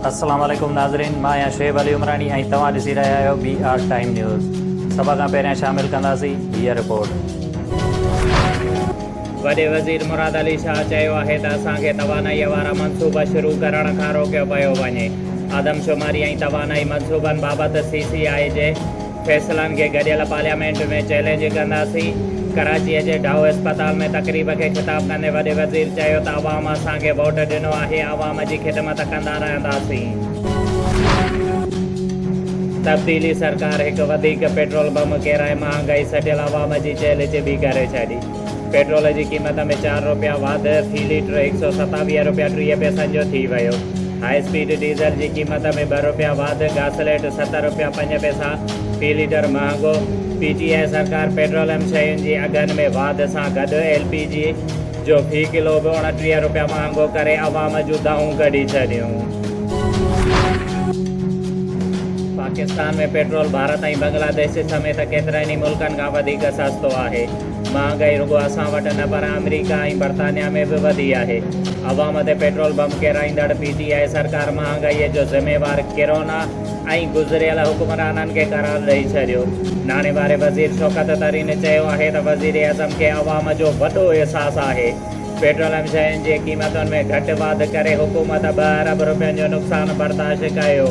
السلام عليڪم ناظرين مان آهيان شعيب علي عمراڻي ۽ توهان ڏسي رهيا آهيو بي آر ٽائيم نيوز سڀ کان پهريان شامل ڪنداسين هيء رپورٽ. وڏي وزير مراد علي شاهه چيو آهي ته اسان کي توانائي وارا منصوبا شروع ڪرڻ کان روڪيو پيو وڃي، آدمشماري ۽ توانائي منصوبن بابت سي سي آء جي، فيصلن کي گڏيل پارليامينٽ ۾ چئلينج ڪنداسين، ڪراچيء جي ڊائو اسپتال ۾ تقريب کي خطاب ڪندي وڏي وزير چيو ته عوام اسان کي ووٽ ڏنو آهي عوام جي خدمت ڪندا رهنداسين. تبديلي سرڪار هڪ وڌيڪ پيٽرول بم ڪيرائي مهانگائي سٽيل عوام جي چيلي چٻي ڪري ڇڏي. پيٽرول جي قيمت ۾ چار رپيا واڌ في ليٽر هڪ سؤ ستاويهه رپيا ٽيهه پئسن جو ٿي ويو. هاء اسپيڊ ڊيزل جي قيمت ۾ ٻه رپيا واڌ گاسليٽ ست رپيا پنج پئسا في ليٽر مهانگو پي ٽي آء سرڪار پيٽروليم شين جي اگهن ۾ واڌ سان گڏ ايل پي جي جو في ڪلو به اڻٽيهه رپيا مهانگو ڪري عوام جون دانهون ڪڍي ڇڏيون. پاڪستان ۾ پيٽرول ڀارت ۽ بنگلاديش سميت ڪيترن ئي ملڪن کان وڌيڪ سستو آهي. مهانگائي رڳو اسان وٽ نه پر آمريڪا ۽ برطانيا ۾ به وڌي آهي. عوام تي پيٽرول بم ڪيرائيندڙ پي ٽي آء سرڪار مهانگائي جو ذميوار ڪرونا ۽ گذريل حڪمرانن کي قرار ڏئي ڇڏيو. ناڻي واري وزير شوڪت ترين چيو آهي ته وزيراعظم کي عوام جو وڏو احساس آهي. پيٽروليم شين جي قيمتن ۾ گهٽ واڌ ڪري حڪومت ٻه ارب رپين جو نقصان برداشت ڪيو.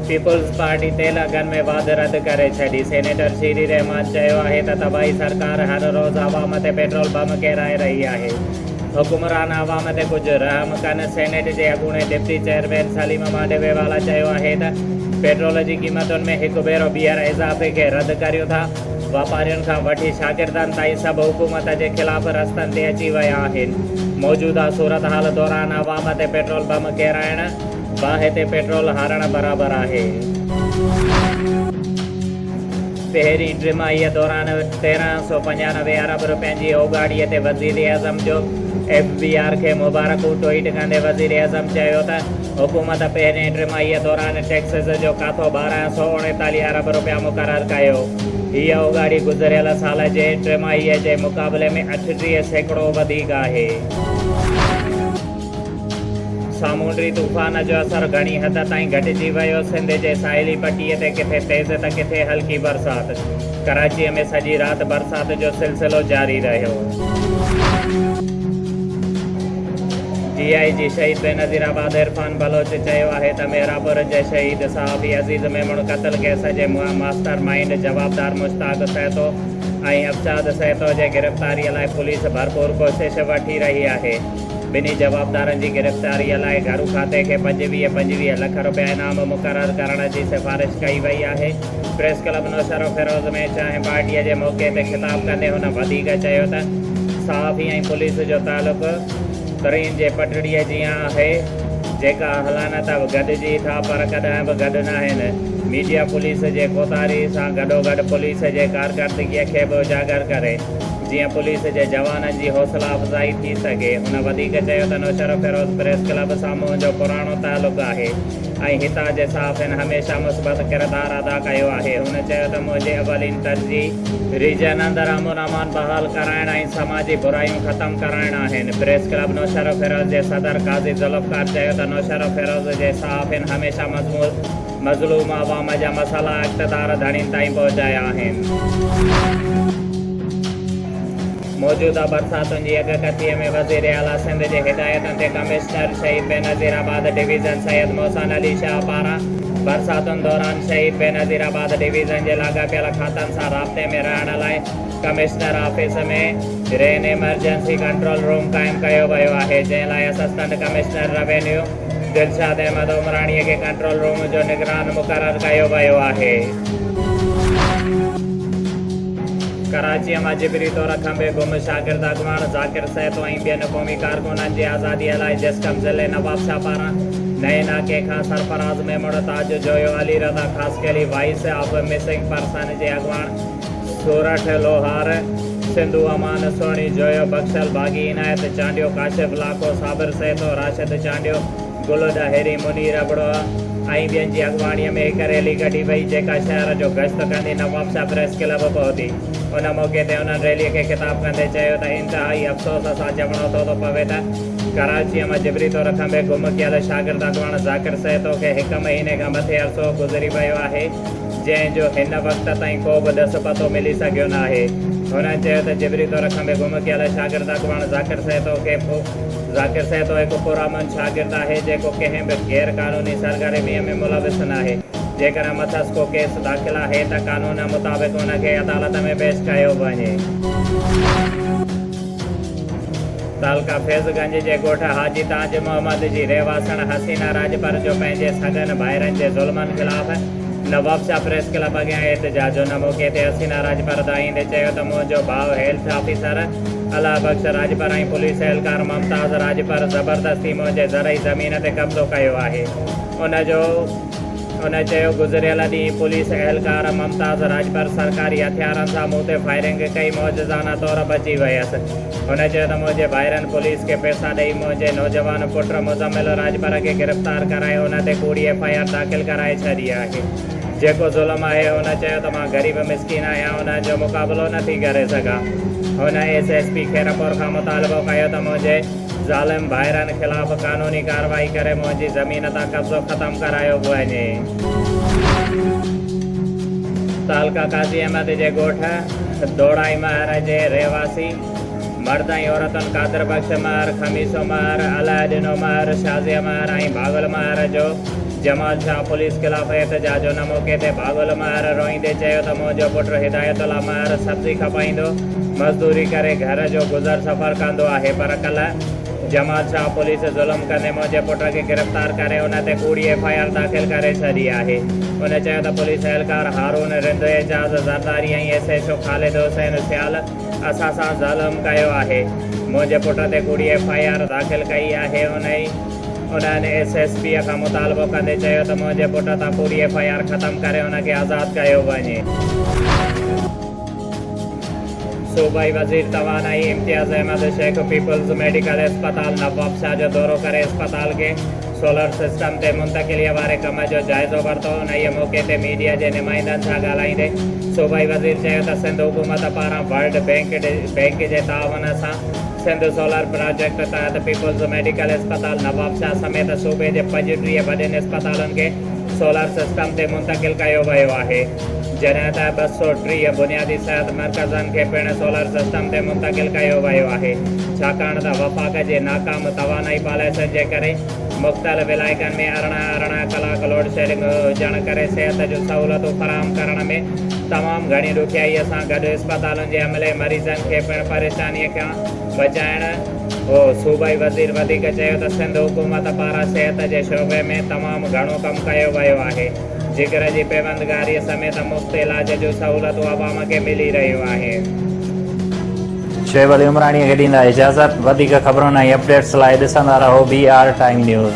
پيپلز پارٽي تيل اگهن ۾ واڌ رد ڪري ڇڏي، سينيٽر شير الرحمان چيو آهي ته طبعي سرڪار هر روز عوام تي پيٽرول بم ڪيرائي رهي آهي، حڪمران عوام تي ڪجهه رحم ڪن، سينيٽ جي اڳوڻي ڊپٽي چيئرمين سليم مانڊوي والا چيو آهي ته پيٽرول جي قيمتن ۾ هڪ ڀيرو ٻيهر اضافي کي رد ڪريون ٿا، واپارين کان وٺي شاگردن تائين سڀ حڪومت جي خلاف رستن تي اچي ويا آهن، موجوده صورتحال دوران عوام تي پيٽرول بم ڪيرائڻ. باهه تي پيٽرول هارڻ برابر آهي. پهرين ٽماهيء دوران تيرنهن سؤ پنجانوي ارب رپين جي اوڳاڙيء تي وزيراعظم جو ايف بي آر کي مبارڪون ٽوئيٽ ڪندي وزيراعظم چيو ته حڪومت پهرين ٽماهيء دوران ٽيڪسز جو ڪاٿو ٻارنهن سؤ اڻيتاليهه ارب رپيا مقرر ڪيو. هيء اوڳاڙي گذريل سال جي ٽماهيء جي مقابلي ۾ اٺٽيهه سيڪڙو وڌيڪ آهي. سامونڊي طوفان جو اثر گهڻي حد تائين گهٽجي ويو، سنڌ جي ساحلي پٽي تي ڪٿي تيز ته ڪٿي هلڪي برسات، ڪراچي ۾ سڄي رات برسات جو سلسلو جاري رهيو. ڊي آء جي شهيد بينظير آباد عرفان بلوچ چيو آهي ته مهراپور جي شهيد صحافي عزيز ميمڻ قتل ڪيس جي ماسٽر مائينڊ جوابدار مشتاق سهتو ۽ ابچاد سهتو جي گرفتاري لاء پوليس ڀرپور ڪوشش وٺي رهي آهي. ٻنهي جوابدارن جي گرفتاريء لاء گهرو کاتي کي پنجويهه پنجويهه لک رپيا انعام مقرر ڪرڻ جي سفارش ڪئي وئي آهي. پريس ڪلب نوشهروفيروز ۾ چانهه پارٽيء جي موقعي تي خطاب ڪندي هن وڌيڪ چيو ته صحافي ۽ پوليس جو تعلق ترين جي پٽڙيء جيان آهي جيڪا اهلانه ته گڏجي ٿا پر ڪڏهن به گڏ ناهن. ميڊيا پوليس جي ڪوتاهي سان گڏوگڏ پوليس جي ڪارڪردگيء کي به اجاگر ڪري. جيئن پوليس جي جوانن جي حوصلا افزائي ٿي سگهي. هن وڌيڪ چيو ته نوشهرو فيروز پريس ڪلب سان منهنجو پراڻو تعلق آهي ۽ هتان جي صحافين هميشه مثبت ڪردار ادا ڪيو آهي. هن چيو ته منهنجي اولين ترجيح. ريجن اندر امن امان بحال ڪرائڻ ۽ سماجي برايون ختم ڪرائڻ آهن. پريس ڪلب نوشهرو فيروز جي صدر قاضي ذوالفقار چيو ته نوشهرو فيروز جي صحافين هميشه مضمون. مظلوم عوام جا مسئلا اقتدار ڌڻين تائين پهچايا آهن. موجوده برساتن جي اڳڪٿيء ۾ وزيراعليٰ سنڌ جي هدايتن تي commissioner Shaheed Benazirabad division Syed Mohsin Ali Shah پاران برساتن دوران شهيد بينظير آباد ڊويزن جي لاڳاپيل کاتن سان رابطي ۾ رهڻ لاء commissioner office ۾ rain emergency control room قائم ڪيو ويو آهي جنهن لاء assistant commissioner revenue Dilshad Ahmed Umrani کي ڪنٽرول روم جو نگران مقرر ڪيو ويو آهي. ڪراچيء مان جبري طور کنڀي گم شاگرد اڳواڻ ذاڪر سهتو ۽ ٻين قومي ڪارڪنن جي آزاديء لاء جسقم ضلعي نوابشاهه پاران نئين ناڪي کان Sarfraz Memon, Taj Joyo, Ali Raza Khaskheli, voice of missing persons جي اڳواڻ، ٿورا ٺھيل اوھار، سنڌو امان، سهڻي جويو، بخشل باغي، عنايت چانڊيو، ڪاشف لاکو، صابر سهتو، راشد چانڊيو، گل ڏاهري، منير ابڙوھ ۽ ٻين جي اڳواڻيء ۾ هڪ ريلي ڪڍي وئي، جيڪا شهر جو گشت ڪندي نوابشاھ پريس ڪلب پهتي. ان موقعي تي انهن ريليء کي خطاب ڪندي چيو ته انتهائي افسوس سان چوڻو ٿو ته پوي ته ڪراچيء مان جبري طور کنڀي گم ڪيل شاگرد اڳواڻ ذاڪر سهتو کي هڪ مهيني کان مٿي عرصو گذري ويو آهي، جنهن جو هن وقت تائين ڪو به ڏس پتو ملي سگهيو ناهي. هن چيو ته جبري طور کنڀي گم ڪيل شاگرد اڳواڻ ذاڪر سهتو کي پ. ذاڪر سهتو هڪ پرامن شاگرد آهي جيڪو ڪنهن به غير قانوني سرگرميء ۾ ملوث ناهي. جيڪڏهن مٿس ڪو ڪيس داخل آهي ته قانون مطابق ان کي عدالت ۾ پيش ڪيو وڃي. تعلقه فيض گنج جي ڳوٺ حاجي تاج محمد جي رهواسڻ حسينه راڄپر جو پنهنجي سڳن ڀائرن جي ظلمن خلاف نواب شاهه پريس ڪلب اڳيان احتجاج جو نعمو ڪيندي حسينا راڄپر تان ايندي چيو ته منهنجو ڀاء health officer Allah Bakhsh Rajpar ۽ police اهلڪار ممتاز راڄپر زبردستي منهنجي زرعي زمين تي قبضو ڪيو آهي ان جو ان چيو گذريل ڏينهن پوليس اهلڪار ممتاز راڄپر سرڪاري هٿيارن سان مون تي فائرنگ ڪئي معجزانه طور بچي ويس هن چيو ته منهنجي ڀائرن پوليس کي پئسا ڏئي منهنجي نوجوان پٽ مزمل راڄپر کي گرفتار ڪرائي ان تي ڪوڙي ايف آء آر داخل ڪرائي ڇڏي آهي جيڪو ظلم آهي هن چيو ته مان غريب مسڪين آهيان انهن جو مقابلو نٿي ڪري سگهان هن ايس ايس پي خيرپور کان مطالبو ڪيو ته منهنجي ظالم ڀائرن خلاف قانوني ڪارروائي ڪري منهنجي زمين تان قبضو ختم ڪرايو وڃي. تعلقه قاضي احمد جي ڳوٺ. دوڙائي مهر جي رهواسي مرد ۽ عورتن قادر بخش مهر، خميسو مهر، الاهي ڏنو مهر، شازيه مهر ۽ ڀاڳل مهر جو جمال شاهه پوليس خلاف احتجاج ان موقعي تي ڀاڳل مهر روئيندي چيو ته منهنجو پٽ هدايت الله مهر سبزي کپائيندو مزدوري ڪري گهر جو گذر سفر ڪندو آهي پر ڪلهه جمال شاهه پوليس ظلم ڪندي منهنجي پٽ کي گرفتار ڪري ان تي ڪوڙي ايف آء آر داخل ڪري ڇڏي آهي. هن چيو ته پوليس اهلڪار Haroon Rind, Ejaz Zardari ۽ S H O Khalid Hussain Sial اسان سان ظلم ڪيو آهي. منهنجي پٽ تي ڪوڙي ايف آء آر داخل ڪئي آهي. انهن ايس ايس پي کان مطالبو ڪندي چيو ته منهنجي پٽ تان ڪوڙي ايف آء آر ختم ڪري ان کي آزاد ڪيو وڃي. صوبائي وزير توانائي امتياز احمد شيخ پيپلز ميڊيڪل اسپتال نوابشاهه جو دورو ڪري اسپتال کي سولر سسٽم تي منتقليء واري ڪم جو جائزو ورتو، انهيء موقعي تي ميڊيا جي نمائندن سان ڳالهائيندي صوبائي وزير چيو ته سنڌ حڪومت پاران ورلڊ بينڪ بينڪ جي تعاون سان سنڌ سولر پراجيڪٽ تحت پيپلز ميڊيڪل اسپتال نوابشاهه سميت صوبي جي پڄ ٽيهه وڏين اسپتالن کي سولر سسٽم تي منتقل ڪيو ويو آهي. جڏهن ته ٻه سؤ ٽيهه بنيادي صحت مرڪزن کي پڻ سولر سسٽم تي منتقل ڪيو ويو آهي، ڇاڪاڻ ته وفاق جي ناڪام توانائي پاليسين جي ڪري مختلف علائقن ۾ ارڙهن ارڙهن ڪلاڪ لوڊشيڊنگ هجڻ ڪري صحت جون سهولتون فراهم ڪرڻ ۾ تمام گهڻي ڏکيائيء سان گڏ اسپتالن جي عملي مريضن کي پڻ پريشانيء کان بچائڻ هو. صوبائي وزير وڌيڪ چيو ته سنڌ حڪومت پاران صحت جي شعبي ۾ تمام گهڻو ڪم ڪيو ويو آهي. ذڪر جي پيوندگاري سميت مفت علاج جون سهولتون عوام کي ملي رهيون آهن. شعيب علي عمراڻيء کي ڏيندا اجازت. وڌيڪ خبرن ۽ اپڊيٽس لاء ڏسندا رهو بي آر ٽائيم نيوز.